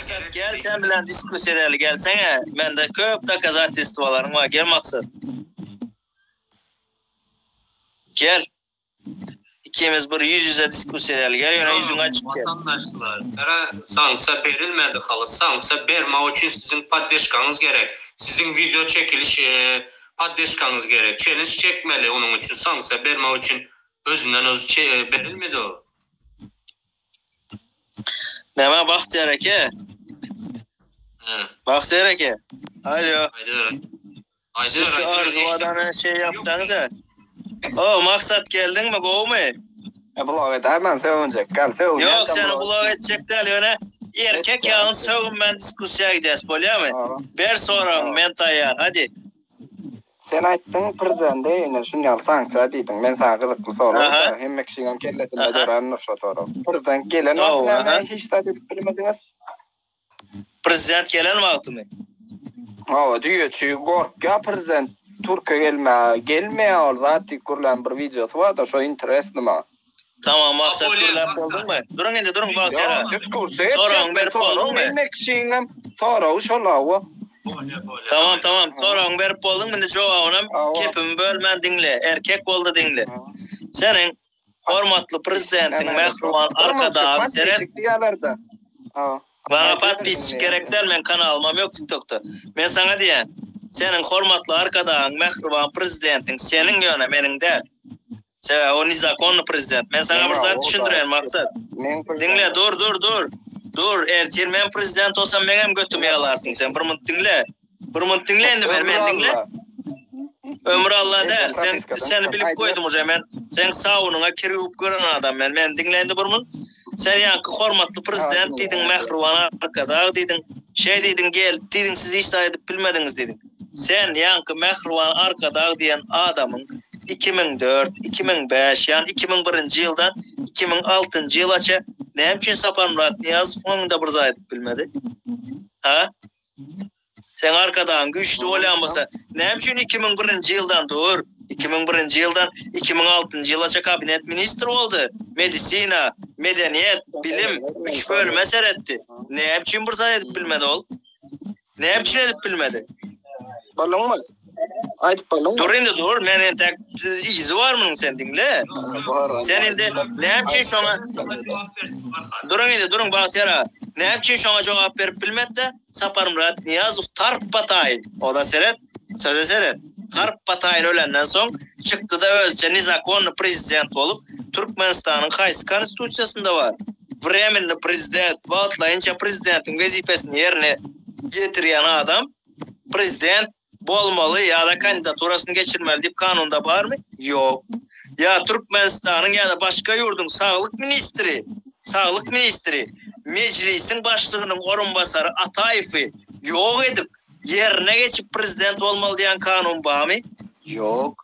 Maksat gel sen bilen diskussiýa edeli gelsene. Mende köp dokazatilstwalaryň bar. Gel Maksat. Gel. Ikimiz bir ýüz ýüze diskussiýa edeli. Gel ýöne ýüzüňi açyp gel. Watandaşlar, gara sanksiýa berilmedi halas. Sanksiýa bermek üçin siziň poddeşkaňyz gerek. Siziň wideo çekiliş poddeşkaňyz gerek. Çellenç çekmeli onuň üçin sanksiýa bermek üçin Özünden özi çeýe berilmedi o. Näme Bagtyýar eke? Hä. Bagtyýar eke. Alýo. Aýdyber. Aýdyber. Şu arzuw adana şeý ýapsaňyz-a. O, Maksat geldiňmi, gowumy? E blog edäý men sögünjek. Gel sögün. Ýok, seni blog etjek däl, ýöne erkek ýaly sögün men diskussiýa gidäs, bolýamy? Ber soragyňy, men taýýar. Hadi. Sen aýtdyň prezidende ine şuny al sanksiýa diýdiň men saňa gyzykly sorag berýän hemme kişiniň kellesinde dörändir şo sorag prezident gelen wagty näme hiç zat edip bilmediňiz? Prezident gelen wagtymy? Hawa düýe çüýe gorkýa prezident türkiýe gelmäge gelmeýä ol zat diýip gürlän bir wideosy barda şo interesni maňa. Tamam maksat gürläp bolduňmy? Duruň indi duruň bagtyýara. Soragyňy berip bolduňmy? Diýmek şiňňem soragy şol awa. Tamam tamam soragyňy berip bolduňmy indi jogabynam kepimi bölmän diňle erkek boldy diňle. Seniň hormatly prezidentiň mähriban arkadagyň seret. Maňa podpisçik gerek däl meň kanalymam ýok tik tokda. Men saňa diýýän, seniň hormatly arkadagyň mähriban prezidentiň seniň ýöne meniň däl. Sebäbi o nezakonny prezident. Men saňa bir zat düşündireýin Maksat. Diňle dur dur dur. Dur ertir men prezident bolsam meňem götümi ýalarsyň sen bir munt diňle. Bir minut diňle indi beri meni diňle. Ömür Allah däl. Sen seni bilip goýdum uje men. Sen saunyňa kir ýuwup gören adam men. Meni diňle indi bir minut. Sen ýaňky hormatly prezident diýdiň, mähriban arkadag diýdiň. Şeý diýdiň, gelip diýdiň, siz hiç zat edip bilmediňiz diýdiň. Sen ýaňky mähriban arkadag diýen adamyň 2004-2005, ýani 2001-nji ýyldan 2006-njy ýylaça näme üçin Saparmyrat Nyýazowyň öňünde bir zat edip bilmedi? Ha? Seň arkadagyň güýçli bolýan bolsa, näme üçin iki müň birinji ýyldan, dur, iki müň birinji ýyldan iki müň altynjy ýylaça kabinet ministri boldy, medisina, medeniýet, bilim, üç bölüme seretdi. Näme üçin bir zat edip bilmedi ol? Näme üçin edip bilmedi? Bolduňmy? Aýdyp bolduň. Dur indi dur, men entek yzy bar munyň sen diňle. Sen indi näme üçin şoňa jogap bersin barha. Duruň indi duruň Bagtyýar aga. Näme üçin şoňa jogap berip bilmedi-de, Saparmyrat Nyýazow tarpa taýyn, oda seret, söze seret, tarpa taýyn ölenden soň çykdy-da özüçe nezakonnyý prezident bolup, Türkmenistanyň haýsy konstitusiýasynda bar? Wremennyý prezident, wagtlaýynça prezidentiň wezipesini ýerine ýetirýän adam. Prezident bolmaly ýa-da kandidaturasyny geçirmeli diýip kanunda barmy? Ýok. Ýa Türkmenistanyň ýa-da başga ýurduň saglyk ministri, saglyk ministri, Mejlisiň başlygynyň orunbasary Ataýewi ýok edip, ýerine geçip prezident bolmaly diýen kanun barmy? Ýok.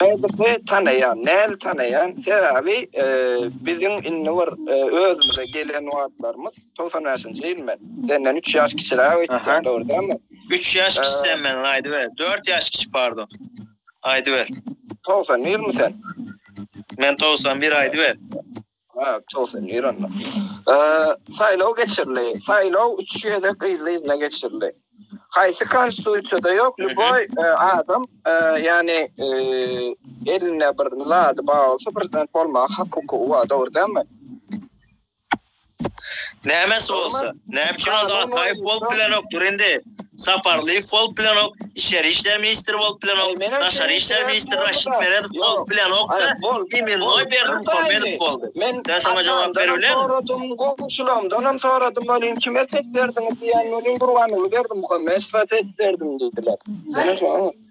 Nädip we tanaýan, nädip tanaýan, sebäbi biziň indi bir özümize gelen wagtlarymyz togsan bäşinji ýyl men, senden üç ýaş kiçiräk öýtýän dogry dälmi? Üç ýaş kiçi sen menden aýdyber, dört ýaş kiçi pardon. Aýdyber. Togsan birmi sen? Men togsan bir aýdyber. Ha, togsan bir onda. Saýlaw geçirildi. Saýlaw üç gezek yzly-yzyna geçirildi. Haýsy konstitusiýada ýok, lýuboý adam, ýagny elinde bir zady bar bolsa, prezident bolmaga hak-hukugy bar, dogry dälmi? Nämesi bolsa? Näme üçin onda Ataýew bolup bilenok, dur indi, Saparlyýew bolup bilenok, içeri işler ministri bolup bilenok, daşary işler ministri Raşid Meredow bolup bilenok-da, imennoý Berdimuhamedow boldy. Sen şoňa jogap berip bilermiň? Men atamdan soradym, goňşularymdanam soradym welin, kime ses berdiňiz diýende welin, Gurbannurly Berdimuhamedowa ses berdim diýdiler.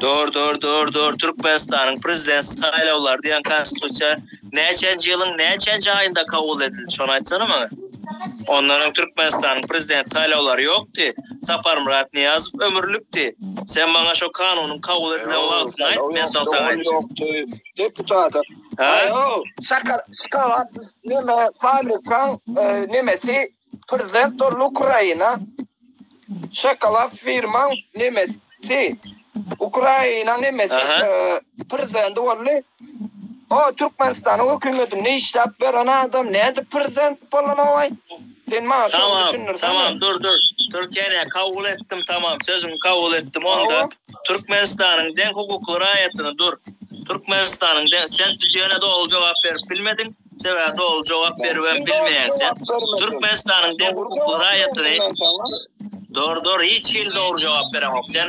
Dur dur dur dur Türkmenistanyň prezident saýlawlary diýen konstitusiýa näçenji ýylyň näçenji aýynda kabul edildi şony aýtsana maňa. Ondan öň Türkmenistanyň prezident saýlawlary ýokdy. Saparmyrat Nyýazow ömürlikdi. Sen maňa şo kanunyň kabul edilen wagtyny aýt men soň saňa aýtjak. Deputat. Haýo. Şaka şkawat neme fabrikaň nemesi Prezident Durly Ukraina şokolad firmaň nemesi Ukraina nemesi prezidenti boldy o Türkmenistanyň hökümetinde işläp beren adam nädip prezident bolanogaý sen maňa şony düşündirsene. Tamam tamam dur dur Türkiýäni kabul etdim tamam sözüňi kabul etdim onda Türkmenistanyň deň hukukly raýatyny dur Türkmenistanyň deň sen ýöne doly jogap berip bilmediň. Sebäbi ol jogap berip hem bilmeýän sen. Türkmenistanyň deň hukukly raýatyny Dor dor hiç hili dogry jogap beremok sen.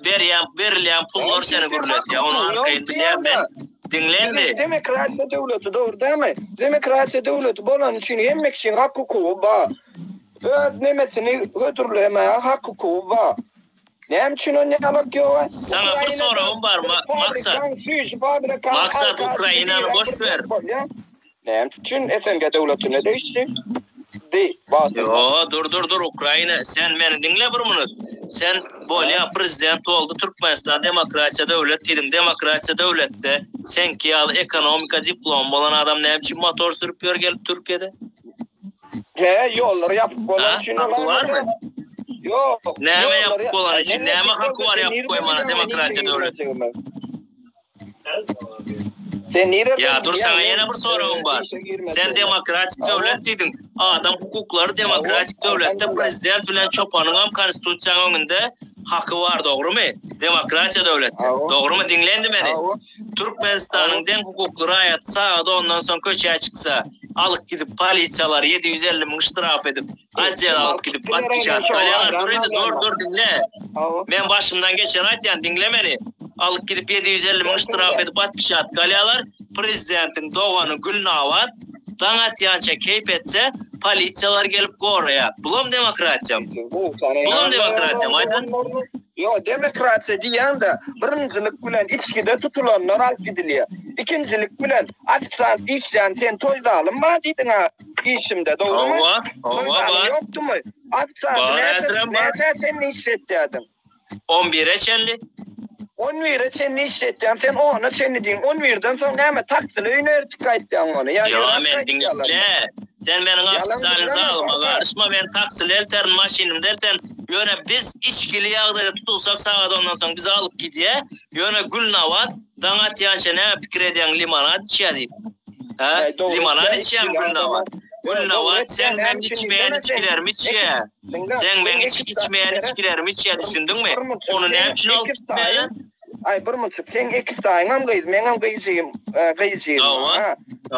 Berýän berilýän pullar seni gürletýär. Ony arkaýyn bilýän men. Diňle indi. Demokratiýa döwleti dogry dälmi? Demokratiýa döwleti bolany üçin hemme kişiň hak hukugy bar. Öz nemesini hödürlemäge hak hukugy bar. Näme üçin onda gabat ýoga? Saňa bir soragym bar Maksat. Maksat Ukrainany boş ber. Näme üçin SNG döwletine degişli? Di Wagtynda. Ýoo dur dur dur Ukraina sen meni diňle bir minut sen bolýa prezident boldy Türkmenistan demokratiýa döwlet diýdiň demokratiýa döwletde seňki ýaly ekonomika diplomy bolan adam näme üçin motor sürüp ýör gelip Türkiýede? He, ýollary ýapyk bolany üçin olar. Haky barmy? Ýok. Näme ýapyk bolany üçin? Näme haky bar ýapyk goýmana demokratiýa döwletinde? Sen nireden? Ýa dur saňa ýene bir soragym bar. Sen demokratik döwlet diýdiň. Adam hukuklary demokratik döwletde prezident bilen çopanyň hem konstitusiýaň öňünde haky bar dogrymy? Demokratiýa döwletde. Dogrymy? Diňle indi meni. Türkmenistanyň deň hukukly raýaty sagat ondan soň köçä çyksa, alyp gidip polisiýalar ýedi ýüz elli müň ştraf edip, atjele alyp gidip atkyşa salýarlar. Dur indi, dur, dur, diňle. Men başymdan geçeni aýtýan, diňle meni. Alyp gidip ýedi ýüz elli müň ştraf edip atkyşa salýarlar. Prezidentiň dogany Gülnabat daň atýança keýp etse, polisiýalar gelip goraýar. Bulam demokratiýamy? Bulam demokratiýamy aýdyň? Ýok, demokratiýa diýýän-de, birinjilik bilen içgide tutulanlar alyp gidilýär. Ikinjilik bilen, ofisiant işlän sen toý zalyň bar diýdiň-ä işimde, dogrumy? Hawa, hawa, bar. Toý zalyň ýokdumy? Ofisianty näçe, näçä çenli işletýärdiň? On bire çenli. On bire çenli işletýäň sen, ona çenli diýiň. On birden soň näme, taksili öýüne ertip gaýtýaňmy ony? Ýa ýöräp gaýtýaňmy? Ýa, meni diňle. Sen meniň ofisiant zalyma garyşma, men taksili elterin, maşynymda elterin. Ýöne biz içgili ýagdaýda tutulsak sagat ondan soň bizi alyp gidýä, ýöne Gülnabat daň atýança näme pikir edýäň limonad içýä diýip. Hä? Limonad içýämi Gülnabat? Gülnabat seň meň içmeýän içgilerimi içýä. Seň meň içmeýän içgilerimi içýä düşündiňmi? Ony näme üçin alyp gitmäýler? Aý Burmutjyk seň eki saýyňam gyz meňem gyjyym gyjyym ha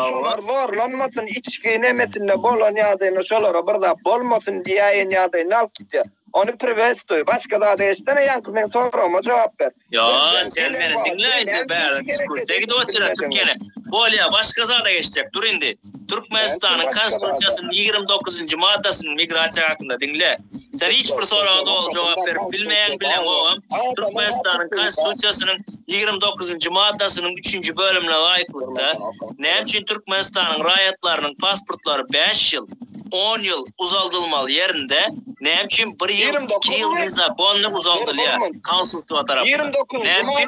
şular zorlanmasyn içgi nemesinde bolan ýagdaýynda şolara bir zat bolmasyn diýäýen ýagdaýynda alyp gitýär ony priwestuý başga zady eşdene ýaňky meň soragyma jogap ber Ýa sen meni diňläýde bäri ekskursiýa gidip otyr ýene bolýa başga zada geçjek dur indi. Türkmenistanyň Konstitusiýasynyň ýigrimi dokuzynjy maddasynyň migrasiýa hakynda diňle. Sen hiç bir soraga doly jogap berip bilmeýäň bileňogam Türkmenistanyň Konstitusiýasynyň ýigrimi dokuzynjy maddasynyň üçünji bölümine laýyklykda näme üçin Türkmenistanyň raýatlarynyň pasportlary bäş ýyl, on ýyl uzaldylmaly ýerinde näme üçin bir ýyl, iki ýyl nezakonnyý uzaldylýar Konsulstwa tarapyndan? Näme üçin?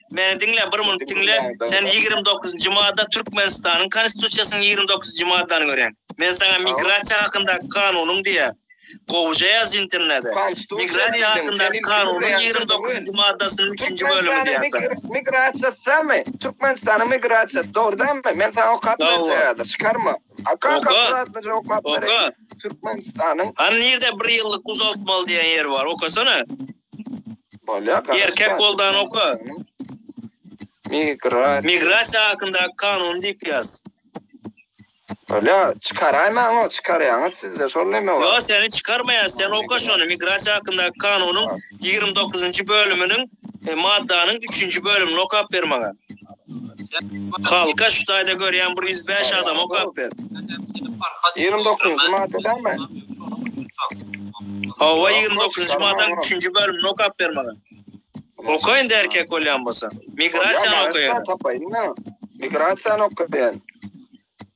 Meni diňle, bir minut diňle. Sen ýigrimi dokuzynjy madda Türkmenistanyň Konstitusiýasynyň ýigrimi dokuzynjy maddany görýäň. Men saňa migrasiýa hakyndaky kanunyň diýýän. Gowuja ýaz internede. Migrasiýa hakyndaky kanunyň ýigrimi dokuzynjy maddasynyň üçünji bölümi diýýärsiň. Migrasiýa samy, Türkmenistanyň migrasiýasy, dogrudanmy? Men saňa okap berjek häzir, çykarma. Oka, akkuratlyja okap bereýin. Türkmenistanyň. Hany nirede bir ýyllyk uzaltmaly diýen ýer bar, okasana. Erkek boldan oka. Migrasiýa. Migrasiýa hakyndaky kanun diýip ýaz. Bolýa, çykaraýmaň o, çykarýaňyz sizde şol neme bar? Ýok, seni çykarmaýas, sen oka şony, migrasiýa hakyndaky kanunyň ýigrimi dokuzynjy bölüminiň, maddanyň üçünji bölümini okap ber maňa. Halka şu taýda görýän bir ýüz bäş adama okap ber. Ýigrimi dokuzynjy maddadamy? Hawa, ýigrimi dokuzynjy maddanyň üçünji bölümini okap ber maňa. Oka indi erkek bolýan bolsaň. Migrasiýany okaýaly. Migrasiýany okaýaly.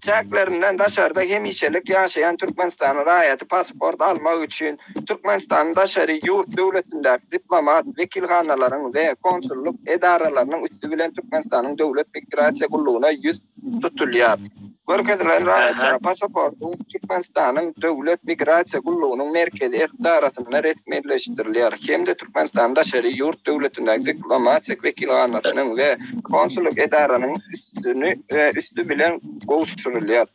çäklerinden daşarda hemişelik ýaşaýan Türkmenistanyň raýaty pasport almak üçin Türkmenistanyň daşary ýurt döwletindäki diplomat wekilhanalaryň we konsullyk edaralarynyň üsti bilen Türkmenistanyň Döwlet migrasiýa gullugyna ýüz tutulýar. Görkezilen raýatlara pasaportyň Türkmenistanyň Döwlet migrasiýa gullugynyň merkezi edarasynda resmileşdirilýär hem-de Türkmenistanyň daşary ýurt döwletindäki diplomatik wekilhanasynyň we konsullyk edaranyň üstüni we üsti bilen gowşurylýar.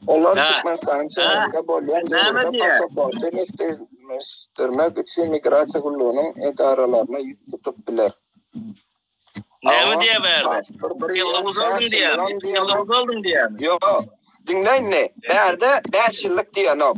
Olar Türkmenistanyň çäginde bolýan döwürde passaporty resmileşdirmek üçin migrasiýa gullugynyň edaralaryna ýüz tutup biler. Näme diýýär bärde? Ýok, diňläýin-le, bärde bäş ýyllyk diýenok.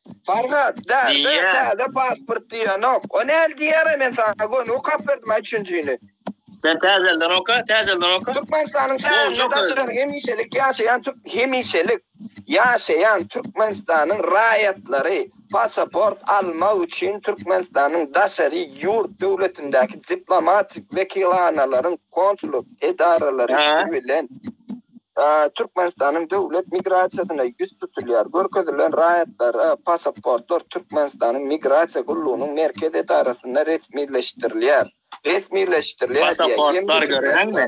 Farhat, da, da, täze pasport diýenok. O näl diýýär-ä, men saňa göni okap berdim-ä üçünjini. Sen täzelden oka, täzelden oka. Türkmenistanyň şäherinde daşaran hemişelik ýaşaýan türk, hemişelik ýaşaýan Türkmenistanyň raýatlary pasaport almak üçin Türkmenistanyň daşary ýurt döwletindäki diplomatik wekilhanalaryň konsul, edaralar işi bilen Türkmenistanyň döwlet migrasiýasyna ýüz tutulýar. Görkezilen raýatlara passportlar Türkmenistanyň Migrasiýa gullugynyň merkez edarasynda resmileşdirilýär. Resmileşdirilýär diýýär. Passportlar göräňmi?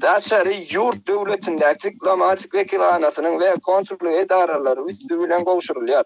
Daşary ýurt döwletindäki diplomatik wekilhanasynyň we konsullyk edaralary üsti bilen gowşurylýar.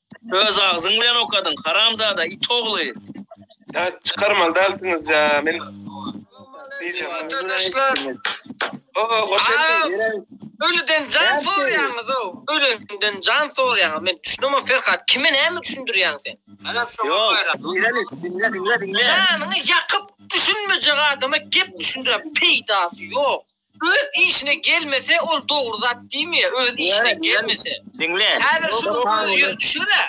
Öz agzyň bilen okadyň haramzada it ogly. Ýa çykarmaly dälsiňiz ýa men diýjek. Arkadaşlar. Oho hoş geldiň. Ölüden jan sorýaňyz o. Ölenden jan sorýaňyz. Men düşünemok Ferhat kime näme düşündirýäň sen. Alam şoňa görä. Diňle diňle diňle. Janyňy ýakyp düşünmejek adama gep düşündirýän peýdasy ýok. Öz işine gelmese ol dogry zat diýmä öz işine gelmese. Diňle. Häzir şuny öz ýüzi düşürä.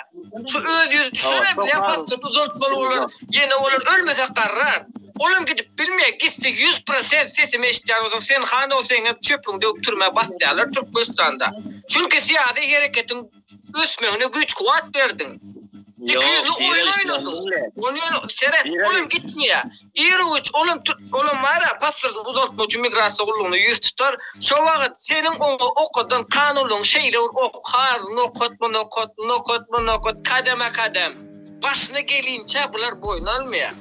Şu öz ýüzi düşürä bilen pasport uzaltmaly bolar. Ýene olar ölmese garrar. Olam gidip bilmeýä gitse ýüz prosent sesimi eşitýän bolsaň sen han ol seňem çöpüň döwüp türmä basýalar türkmenistanda. Çünki syýasy hereketiň ösmegine güýç-kuwwat berdiň. Iki ýüzli oýun oýnadyň. Ony seret, ol hem gitmeýär. Irowitç ol hem olam bar-a, pasporty uzaltmak üçin migrasiýa gullugyna ýüz tutar. Şo wagt seniň oňa okadan kanunyň şeýle bir ok, har nokat, bu nokat, nokat, bu nokat, kademe-kadem. Başyna gelinçä bular boýun almaýar.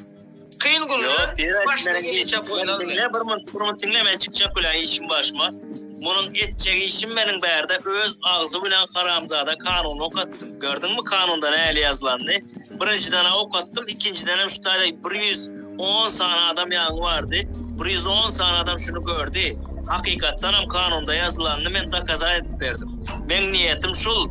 Kyn günler başyna gelinçe boýlar. Diňle bir munt, bir munt diňle men çykjak bilen işim başyma. Munuň etjek işim meniň bärde öz agzy bilen haramzada kanun okatdym. Gördüňmi kanunda näli ýazylanyny? Birinjiden okatdym, ikinjiden hem şu taýda 110 sany adam ýaňy bardy. 110 sany adam şuny gördi. Hakykatdan hem kanunda ýazylanyny men dokazat edip berdim. Meň niýetim şul,